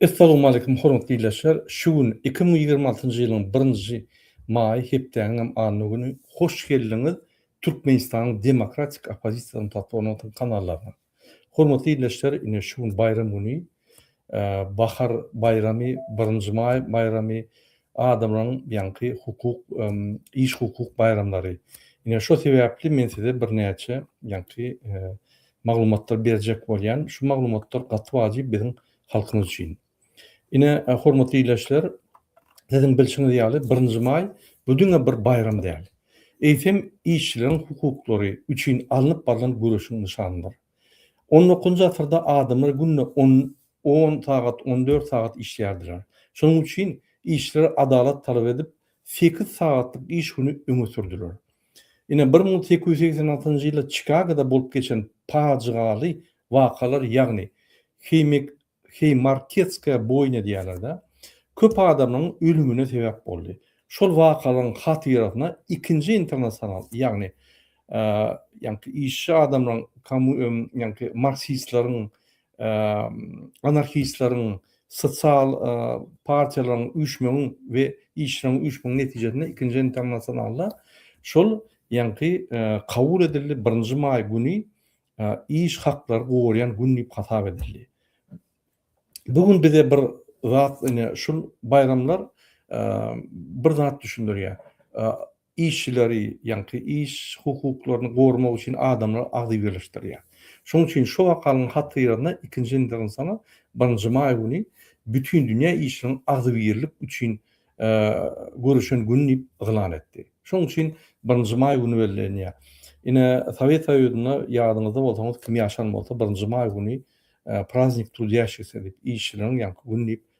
Essalowmaleýkim hormatly ildeşler, şu gün iki müň ýigrimi altynjy ýylyň birinji maýy hepdäniňem anna güni hoş geldiňiz Türkmenistanyň demokratik oppozisiýasynyň platformasynyň kanallaryna. Hormatly ildeşler ine şu gün baýram güni bahar baýramy birinji maý baýramy Adamlaryň ýaňky hukuk, iş hukuk baýramlary. Ine şo sebäpli men size birnäçe ýaňky maglumatlar berjek bolýan. Şu maglumatlar gaty wajyp biziň halkymyz üçin. Ine hormatly ildeşler, siziň bilşiňiz ýaly birinji maý bu diňe bir baýram däl. Eýsem işçileriň hukuklary üçin alnyp barlan göreşiň nyşanydyr. On dokuzynjy asyrda adamlar günde on On sagat, on dört sagat işlärdiler. Şonuň üçin işçiler adalat talap edip, sekiz sagatlyk iş güni öňe sürdüler. Ine, bir müň sekiz ýüz segsen altynjy ýylda Çikagoda bolup geçen pajygaly wakalar, ýagny Heýmek, Heýmarketskaýa boýna diýýärler-dä, köp adamlaryň ölümine sebäp boldy. Şol wakalaryň hatyrasyna ikinji internasional, ýagny, ýagny, işçi adamlaryň, komu, ýagny, marksistleriň, anarhistleriň, sosial partiýalaryň üýşmegiň we işçileriň üýşmegiň netijesinde ikinji internasionalda şol ýaňky kabul edildi, birinji maý güni iş haklary gorýan gün diýip hasap edildi. Bu gün bize bir zat, ine şul baýramlar bir zat düşündirýär. Işçileri, ýaňky iş hukuklaryny gormak üçin adamlar agzybirleşdirýär. Şonuň üçin şu wakalyň hatyradyna ikinji nzsana birinji maý güni Bütindünýä işçileriň agzybirlik üçin göreşen güni diýip yglan etdi. Şonuň üçin birinji maý güni bellenýär. Ine, Sowet Soýuzynda ýadyňyzda bolsaňyz, kim ýaşan bolsa, birinji maý güni praznik trudýaşigsiniň diýip, işçileriň ýaňky güni diýip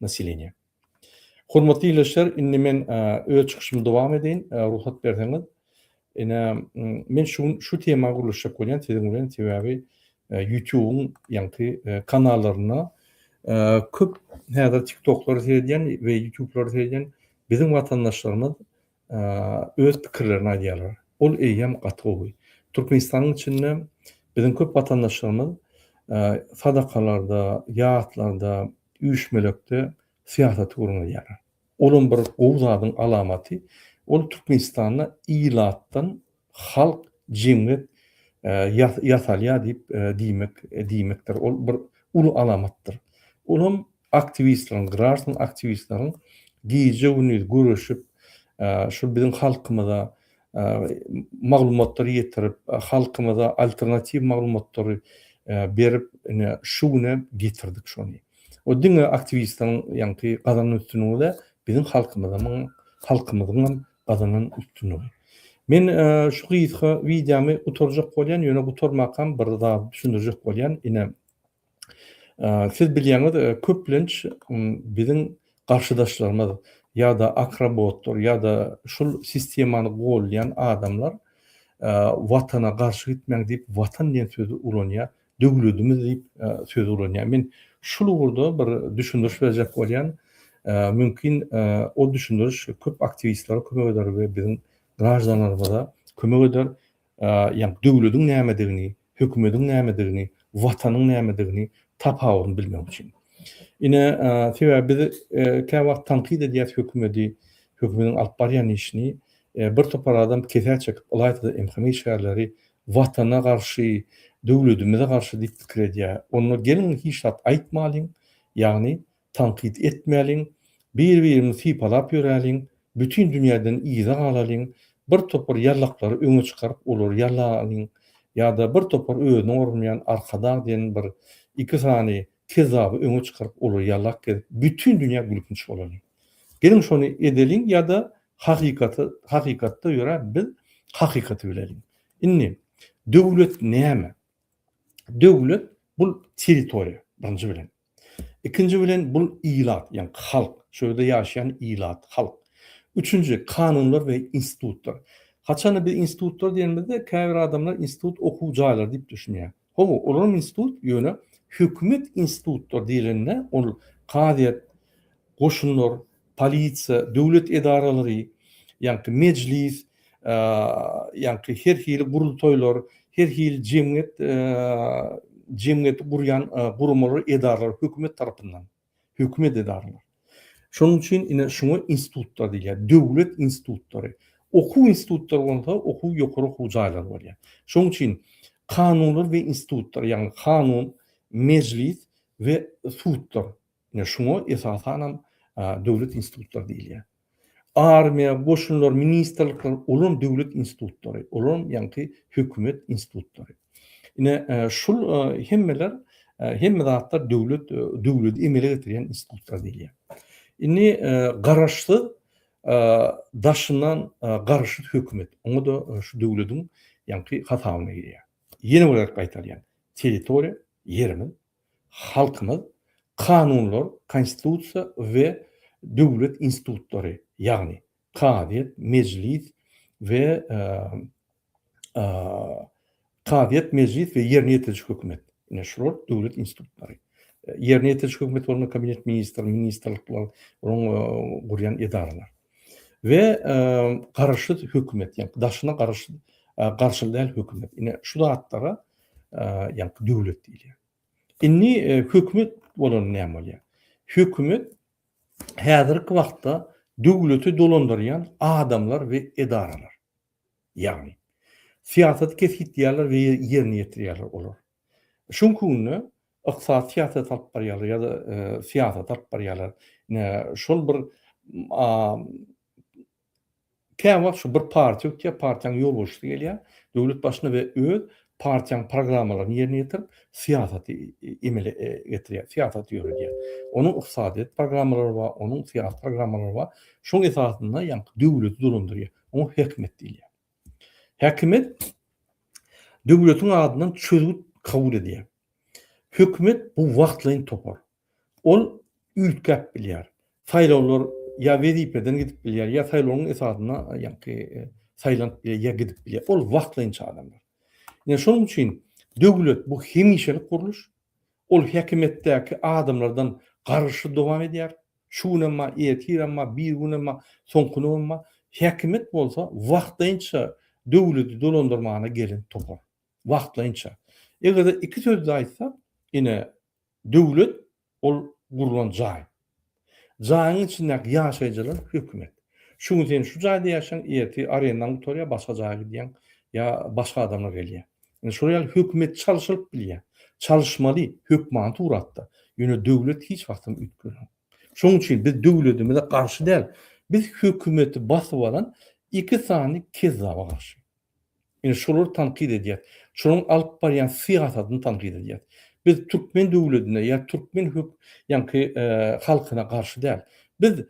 Nasileniýe. Hormatly ildeşler, indi men öz çykyşymy dowam edeýin, rugsat berseňiz. Ine, men şu gün şu tema gürleşjek bolýan siziň bilen, sebäbi YouTube-yň ýaňky kanallarynda köp häzir TikTok-lary seredýän we YouTube-lary seredýän biziň watandaşlarymyz öz pikirlerini aýdýarlar. Ol eýýäm gaty gowy. Türkmenistanyň içinde biziň köp watandaşlarymyz sadakalarda, ýatlarda, üýşmelekde syýasaty gürrüň edýärler. Olam bir gowy zadyň alamaty. Ol Türkmenistanda ilatdan Halk jemgyýet ýasalýar diýip diýmek diýmekdir. Ol bir uly alamatdyr. Ol hem aktiwistleriň, graždan aktiwistleriň gije-gündiz göreşip, şu biziň halkymyza maglumatlary ýetirip, halkymyza alternatiw maglumatlary berip, ine, şu güne getirdik şony. O diňe aktiwistleriň ýaňky gazanan üstünligi däl, biziň halkymyzyň hem gazanan üstünligi. Men şu gysga wideomy gutarjak bolýan, ýöne gutarmakam bir zat düşündirjek bolýan. Ine, siz bilýäňiz, köplenç biziň garşydaşlarymyz ýa-da akrobotlar ýa-da şul sistemany goldaýan adamlar Watana garşy gitmäň diýip Watan diýen sözi ulanýar. Döwledimiz diýip söz ulanýar. Men şul ugurda bir düşündiriş berjek bolýan. Mümkin o düşündiriş köp aktiwistlere kömek eder we biziň graždanlarymyza kömek eder. Ýa döwlediň nämedigini, hökümediň nämedigini, watanyň nämedigini tapawudyny bilmek üçin. Ine sebäbi biz kä wagt tankyt edýäs hökümedi, hökümediň alyp barýan işini. Bir topar adam kesä çekip ylaýta-da MHM işgärleri Watana garşy, döwledimize garşy diýip pikir edýär. Onda geliň hiç zat aýtmalyň, ýagny tankyt etmäliň, bir-birimizi sypalap ýöräliň, bütin dünýäden yza galalyň, bir topar ýallaklary öňe çykaryp olary ýalalyň, ýa-da bir topar özüni goramaýan arkadag diýen bir iki sany kezzaby öňe çykaryp olary ýalap gezip bütin dünýä gülkinç bolalyň. Geliň şony edeliň ýa-da Hakykaty, hakykatda ýöre biz hakykaty bileliň. Indi döwlet näme? Döwlet bul territoriýa birinji bilen. Ikinji bilen bul ilat, ýa halk, şu ýerde ýaşaýan ilat, halk. Üçünji kanunlar we institutlar. Haçanda biz institutlar diýenimizde käbir adamlar institut okuw jaýlary diýip düşünýär. Hawa, olaram institut, ýöne hökümet institutlar diýlende ol kazyýet, goşunlar, polisiýa, döwlet edaralary, ýaňky mejlis, ýaňky her hili gurultaýlar, her hili jemgyýet jemgyýeti gurýan guramalar, edaralar hökümet tarapyndan. Hökümet edaralary. Şonuň üçin ine şuňa institutlar diýilýär. Döwlet institutlary. Okuw institutlary bolsa okuw ýokary okuw jaýlary bolýar. Şonuň üçin kanunlar we institutlar, ýagny kanun, mejlis we sudlar. Ine şuňa esasanam döwlet institutlary diýilýär. Armiýa, goşunlar, ministrlikler, olaram döwlet institutlary, olaram ýaňky hökümet institutlary. Ine, şul hemmeler, hemme zatlar döwlet, döwleti emele getirýän institutlar diýilýär. Indi garaşsyz, daşyndan garaşsyz hökümet, oňa-da şu döwletiň ýaňky hasabyna girýär. Ýene bir gezek gaýtalýan, territoriýa, ýerimiz, Halkymyz kanunlar, Konstitusiýa we döwlet institutlary, ýagny kazyýet, mejlis we kazyýet, mejlis we ýerine ýetiriji hökümet, ine şular döwlet institutlary. Ýerine ýetiriji hökümet bolanda Kabinet ministrleri, ministrlikler, onuň gurýan edaralar. We garaşsyz hökümet, ýagny daşyna garaşsyz, garşyly däl hökümet. Ine şu zatlara ýaňky döwlet diýilýär. Indi e, hökümet bolan näme bolýar? Hökümet häzirki wagtda döwleti dolandyrýan adamlar we edaralar. Ýagny syýasat kesgitleýärler we ýerine ýetirýärler olar. Şuň günde ykdysady syýasat alyp barýarlar ýa-da e, syýasat alyp barýarlar. Şol bir Käwagt şu bir partiýa ötýär, partiýaň ýolbaşçysy gelýär, döwlet başyna we öz partiýaň programmalaryny ýerine ýetirip, syýasaty emele getirýär, syýasaty ýöredýär. Onuň ykdysadyýet programmalary bar, onuň syýasy programmalary bar. Şoň esasynda ýaňky döwleti dolandyrýar. Oňa häkimiýet diýilýär. Häkimiýet döwletiň adyndan çözgüt kabul edýär. Hökümet bu wagtlaýyn topar. Ol üýtgäp bilýär. Saýlawlar ýa wezipeden gidip bilýär, ýa saýlawyň esasynda ýaňky saýlanyp bilýär, ýa gidip bilýär. Ol wagtlaýynça adamlar. Ine şonuň üçin döwlet bu hemişelik gurluş. Ol häkimiýetdäki adamlardan garyşly dowam edýär. Şu günem bar, ertirem bar, birigünem bar, soňky günem bar. Häkimiýet bolsa wagtlaýynça döwleti dolandyrmana gelen topar. Wagtlaýynça. Eger-de iki sözde aýtsak, ine Döwlet, ol gurlan jaý. Jaýyň içindäki ýaşaýjylar, hökümet. Şu gün sen şu jaýda ýaşaýaň, ertir arendaň gutarýar, başga jaýa gidýäň ýa başga adamlar gelýär. Indi şolar ýaly hökümet çalşylyp bilýär. Çalyşmaly, hökmany suratda. Ýöne döwlet hiç wagtam üýtgenok. Şonuň üçin biz döwledimize garşy däl, biz hökümeti basyp alan iki sany kezzaba garşy. Ine, şolary tankyt edýäs. Şolaryň alyp barýan syýasatyny tankyt edýäs. Biz türkmen döwledine ýa türkmen hök ýaňky halkyna garşy däl. Biz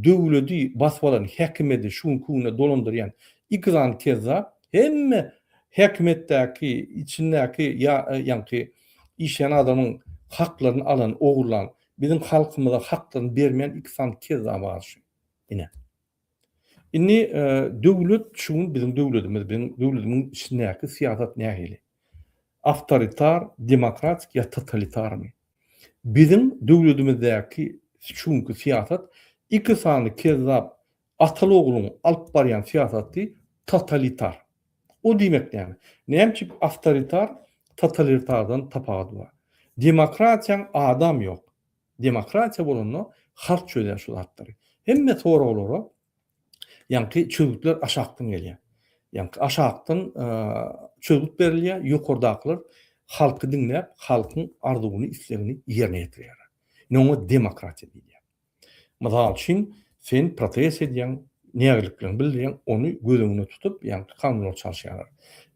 döwledi basyp alan häkimiýeti şu günki günde dolandyrýan iglan kezzap hemme häkimiýetdäki, içindäki ýa ýaňky işleýän adamyň haklaryny alan, ogurlan, biziň halkymyza haklaryny bermeýän iki sany kezzaba garşy. Ine. Indi döwlet şu gün biziň döwledimiz, biziň döwledimiň içindäki syýasat nähili? Awtoritar, demokratik ýa totalitarmy? Biziň döwledimizdäki şu günki syýasat iki sany kezzap ataly ogluň alyp barýan syýasaty totalitar. O diýmek näme? Näme üçin awtoritar totalitardan tapawudy bar? Demokratiýaň adam ýok. Demokratiýa bolanda halk çözýär şu zatlary. Hemme soraglara ýaňky çözgütler aşakdan gelýär. Ýaňky aşakdan çözgüt berilýär, ýokardakylar halky diňläp, halkyň arzuwyny, islegini ýerine ýetirýärler. Ine oňa demokratiýa diýilýär. Mysal üçin, Sen protest edýäň, nägileliklerini bildirýäň, ony göz öňünde tutup, ýagny kanunlary çalşýarlar.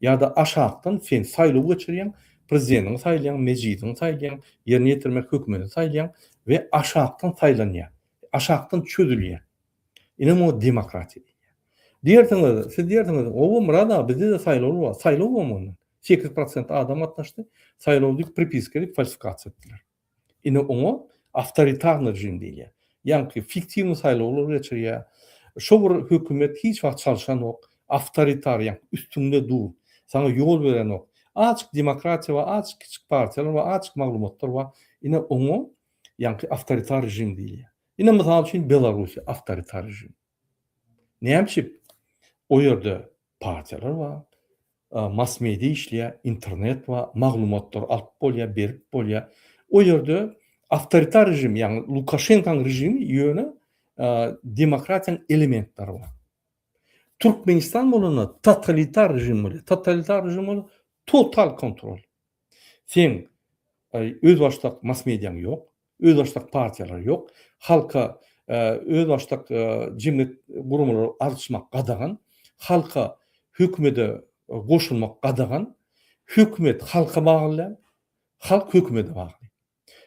Ýa-da aşakdan sen saýlaw geçirýäň, prezidentiňi saýlaýaň, mejlisiňi saýlaýaň, ýerine ýetirmek hökümeti saýlaýaň we aşakdan saýlanýar, aşakdan çözülýär. Ine muňa demokratiýa diýilýär. Diýersiňiz, siz diýersiňiz, Hawa, Myrat aga, bizde-de saýlawlar bar. Saýlaw bolmandyr. Sekiz prosent adam gatnaşdy, saýlaw diýip, pripiska edip, falsifikasiýa etdiler. Ine oňa awtoritarny režim diýilýär. Ýaňky fiktiwny saýlawlar geçirýär. Şo bir hökümet hiç wagt çalşanok. Awtoritar ýaňky üstüňde dur. Saňa ýol berenok. Azjyk demokratiýa bar, azjyk kiçik partiýalar bar, azjyk maglumatlar bar. Ine oňa ýaňky awtoritar režim diýilýär. Ine mysal üçin Belarussiýa awtoritar režim. Näme üçin? O ýerde partiýalar bar. Massmedia işleýä, internet bar, maglumatlary alyp bolýa, berip bolýa. O ýerde awtoritar režim, ýagny Lukaşenkaň režimi ýöne demokratiýaň elementleri bar. Türkmenistan bolanda totalitar režim bolýa. Totalitar režim ol total kontrol. Seň özbaşdak mass-mediaň ýok, özbaşdak partiýalar ýok, halka özbaşdak jemgyýet guramalary arzçmak gadagan, halka hökümede goşulmak gadagan, hökümet halka bagly däl, halk hökümede bagly.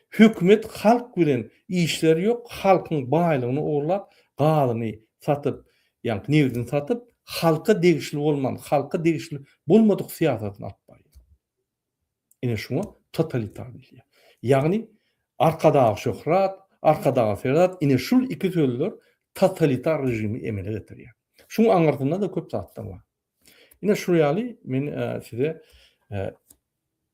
Hökümet halk bilen işleri ýok halkyň baýlygyny ogurlap gazyny satyp ýa nebdini satyp halka degişli bolman halka degişli bolmadyk syýasatyny alyp barýar. Ine şuňa totalitar diýilýär. Ýagny Arkadag şöhrat, Arkadaga serat ine şul iki sözler totalitar režimi emele getirýär. Şuň aňyrsynda da köp zatlar bar. Ine şu ýaly men size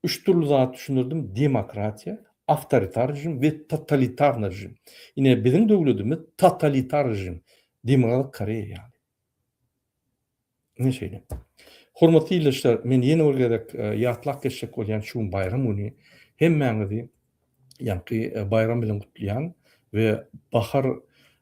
üç dürli zat düşündirdim, demokratiýa, awtoritar režim we totalitarny režim. Ine biziň döwledimiz totalitar režim, Demokratik Koreýa ýaly. Ine şeýle. Hormatly ildeşler, men ýene bir gezek ýatlap geçjek bolýan şu gün baýram güni hemmäňizi ýaňky baýram bilen gutlaýan we bahar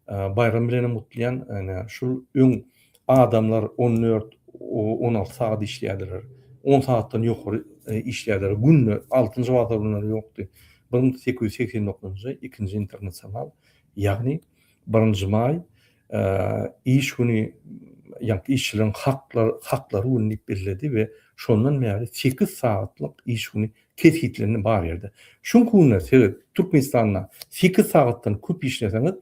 baýram bilen hem gutlaýan ene şul öň adamlar on dört on alty sagat işleýärdiler on sagatdan ýokary işleýärdiler günde altynjy bazar günleri ýokdy bir müň sekiz ýüz segsen dokuzynjy ikinji internasional ýagny birinji maý iş güni ýa-da işçileriň haklary güni diýip belledi we şondan bäri sekiz sagatlyk iş güni kesgitlendi bar ýerde. Şuňky günler siz Türkmenistanda sekiz sagatdan köp işleseňiz,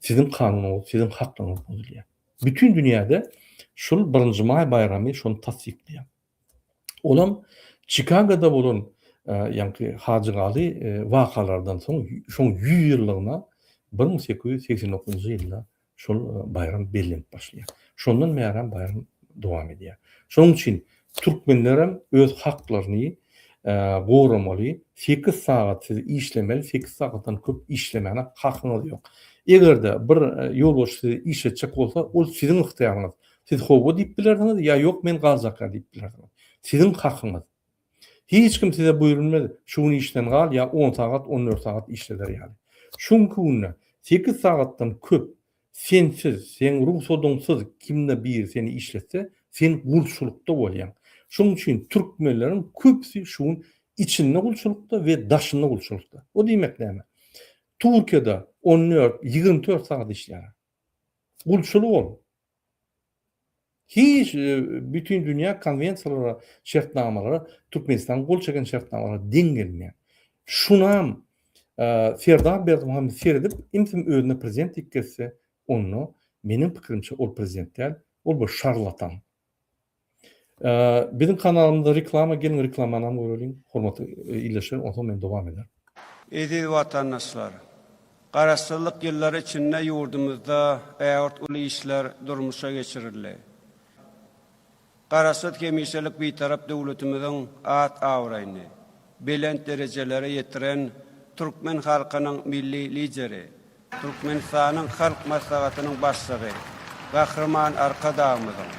siziň kanunyňyz, siziň haklygyňyz bozulýar. Bütin dünýäde şul birinji maý baýramy şony tassyklaýar. Olam Çikagoda bolan ýaňky hajygaly wakalardan soň şoň ýüz ýyllygyna bir müň sekiz ýüz segsen dokuzynjy ýylda şol baýram bellenip başlaýar. Şondan bärem baýram dowam edýär. Şonuň üçin türkmenlerem öz haklaryny goramaly, sekiz sagat siz işlemeli, sekiz sagatdan köp işlemäne hakyňyz ýok. Eger-de bir ýolbaşçy sizi işletjek bolsa, ol siziň ygtyýaryňyz. Siz howwa diýip bilersiňiz ýa ýok men galjakka diýip bilersiňiz. Siziň hakyňyz. Hiç kim size buýrulmaz şu gün işden gal ýa on sagat on dört sagat işleler ýaly. Şu günki günde sekiz sagatdan köp sensiz, seň rugsadyňsyz kimde biri seni işletse sen gulçulykda bolýaň. Şoň üçin türkmenleriň köpüsi şu gün içinde gulçulykda we daşynda gulçulykda. O diýmek näme? Turkiýada on dört, ýigrimi dört sagat işleýärler. Gulçulyk ol. Hiç bütindünýä konwensiýalara, şertnamalara Türkmenistanyň gol çeken şertnamalara deň gelmeýär. Şunam Serdar Berdimuhamedow seredip, imsim özüne prezident diýip gezse, onda meniň pikirimçe ol prezident däl, ol bir şarlatan. Biziň kanalymyzda reklama geliň reklamanam göreliň hormatly ildeşlerim onsoň men dowam ederin. Eziz watandaşlar! Garaşsyzlyk ýyllary içinde ýurdumyzda ägirt uly işler durmuşa geçirildi. Garaşsyz hemişelik Bitarap döwletimiziň at-abraýyny belent derejelere ýetiren türkmen halkynyň Milli Lideri, Türkmenistanyň Halk Maslahatynyň Başlygy Gahryman Arkadagymyzyň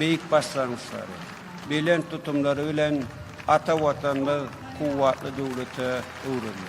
beýik başlangyçlary, belent tutumlary bilen ata Watanymyz kuwwatly döwlete öwrüldi.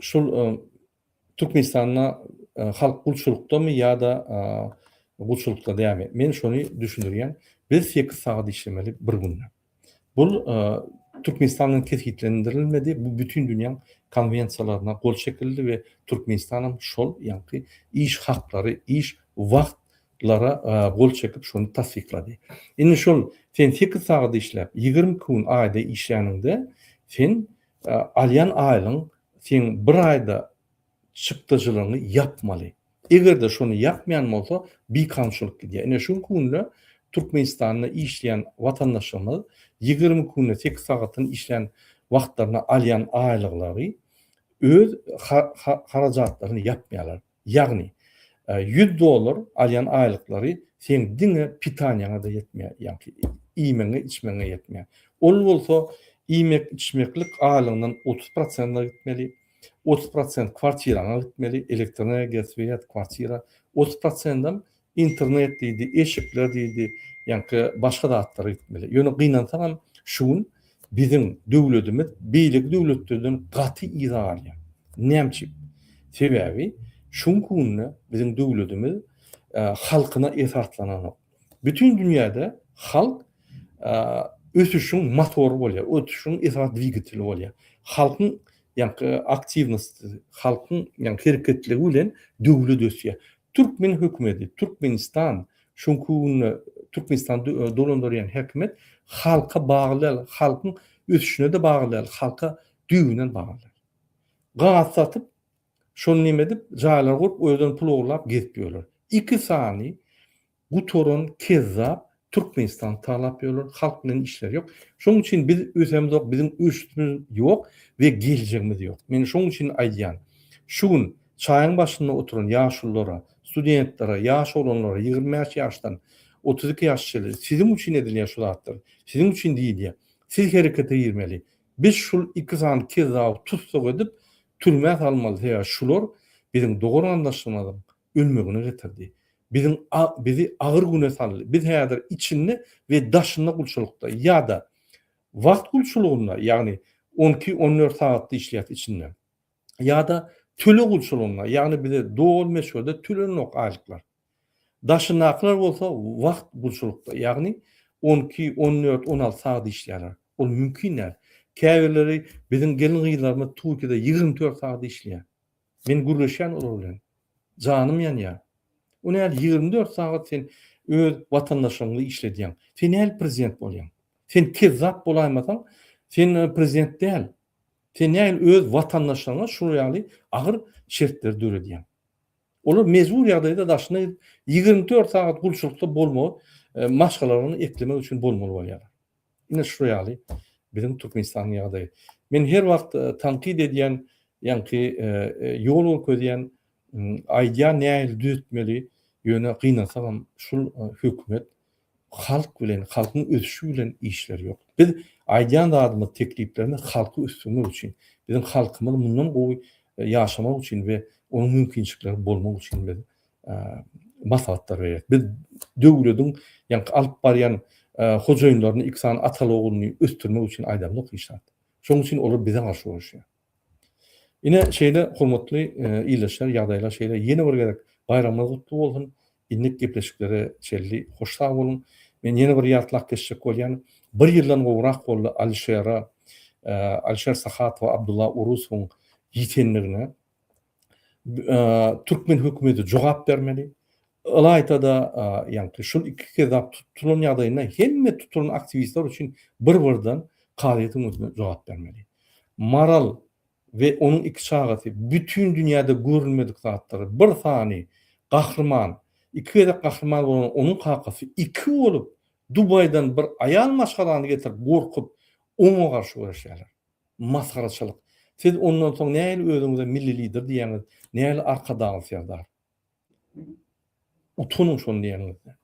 Şul Türkmenistanda halk gulçulykdamy ýa-da gulçulykda dämi? Men şony düşündirýän, biz sekiz sagat işlemeli bir günde. Bul Türkmenistan bilen kesgitlendirilmedi, bu bütin dünýäň konwensiýalaryna gol çekildi we Türkmenistan hem şol ýaňky iş haklary, iş wagt lara gol çekip şony tassyklady. Indi şol sen sekiz sagat işläp, ýigrimi iki gün aýda işläniňde, sen alýan aýlygyň seň bir aýda çykdajylygyňy ýapmaly. Eger-de şony ýapmaýan bolsa, bikanunçylyk gidýär. Ine şu günki günde Türkmenistanda işleýän watandaşlarymyz ýigrimi iki günde sekiz sagatyny işlän wagtlarynda alýan aýlyklary öz harajatlaryny ýapmaýarlar. Ýagny, ýüz dollar alýan aýlyklary seň diňe pitaniýaňa-da ýetmeýär, ýagny iýmegiňe-içmegiňe ýetmeýär. Ol bolsa iýmek-içmeklik aýlygyňdan otuz prosent gitmeli, otuz prosent kwartiraňa gitmeli, elektroenergiýa, swet, kwartira, otuz prosendem Internet diýdi, eşikler diýdi, ýaňky başga zatlar gitmeli. Ýöne gynansaňam şu gün biziň döwledimiz beýleki döwletlerden gaty yza galýar. Näme üçin? Sebäbi şu günki günde biziň döwledimiz halkyna esaslananok. Bütin dünýäde halk ösüşiň motory bolýar, ösüşiň esas dwigateli bolýar. Halkyň ýaňky aktiwnosti, halkyň ýaňky hereketligi bilen döwlet ösýär. Türkmen hökümeti, Türkmenistan, şonky günde Türkmenistany dolandyrýan häkimiýet halka bagly däl, halkyň ösüşine-de bagly däl, halka düýbünden bagly däl. Gaz satyp, şony neme edip, jaýlar gurup, o ýerden pul ogurlap gezip ýörler. Iki sany Gutaran kezzap Türkmenistan talap ýörler halk bilen işleri ýok şoň üçin biz ösemzok biziň ösüşimiz ýok we geljegimiz ýok men şoň üçin aýdýan şu gün çaýyň başynda oturan ýaşulylara studentlere ýaş oglanlara ýigrimi bäş ýaşdan otuz iki ýaş çenli siziň üçin edilýär şu zatlar siziň üçin diýilýär siz herekete girmeli biz şul iki sany kezzaby tussag edip türmä salmaly sebäbi şular biziň dogan-gandaşlarymyzyň ölmegine getirdi. Biziň a bizi agyr güne saldy. Biz häzir içinde we daşynda gulçulykda ýa-da wagt gulçulygynda, ýagny on iki, on dört sagatda işleýäs içinde. Ýa-da töleg gulçulygynda, ýagny bize doly möçberde tölenenok aýlyklar. Daşyndakylar bolsa wagt gulçulykda, ýagny on iki, on dört, on alty sagat işleýärler. Ol mümkin däl. Käbirleri biziň gelin-gyzlarymyz Türkiýede ýigrimi dört sagat işleýär. Men gürleşýän olar bilen. Janym ýanýar. O näl ýigrimi dört sagat sen öz watandaşlygyňy işledýäň. Sen näl prezident bolýaň. Sen kezzap bolaýmasaň sen prezident däl. Sen näl öz watandaşlygyňa şul ýaly agyr şertleri döredýäň. Olar mejbur ýagdaýda daşyna ýigrimi dört sagat gulçulykda bolmagy maşgalalaryny eklemek üçin bolmaly bolýarlar. Ine şu ýaly biziň Türkmenistanyň ýagdaýy. Men her wagt tankyt edýän, ýaňky ýol görkezýän, aýdýan nähili düzetmeli, ýöne gynansagam şul hökümet halk bilen, halkyň ösüşi bilen işleri ýok. Biz aýdýan zadymyz, tekliplerimiz halky ösdürmek üçin, biziň halkymyz mundan gowy ýaşamak üçin we onuň mümkinçilikleri bolmak üçin biz maslahatlar berýär. Biz döwlediň ýaňky alyp barýan hojaýynlaryny iki sany ataly ogulny ösdürmek üçin aýdamyzok hiç zat. Şonuň üçin olar bize garşy uruşýar. Ine şeýle hormatly ildeşler ýagdaýlar şeýle ýene bir gezek baýramyňyz gutly bolsun. Indik gepleşiklere çenli hoş sag boluň. Men ýene bir ýatlap geçjek bolýan bir ýyldan gowrak boldy Alişere Alişer Sahatowa Abdulla Urusowyň ýitendigine türkmen hökümeti jogap bermeli. Ylaýta-da, ýagny şol iki kezap tutulan ýagdaýynda hemme tutulan aktiwistler üçin bir-birden kazyýetiň öňünde jogap bermeli. Maral we onuň iki çagasy bütin dünýäde görülmedik zatlar. Bir sany gahryman, iki gezek gahryman bolan onuň kakasy iki bolup Dubaýdan bir aýal maşgalany getirip gorkup oňa garşy göreşýärler. Masgaraçylyk. Siz ondan soň nähili özüňize milli lider diýýäňiz, nähili Arkadag Serdar? Utanyň şony diýeniňizden.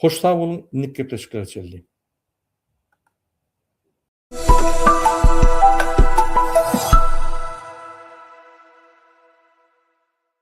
Hoş sag boluň, indiki gepleşiklere çenli.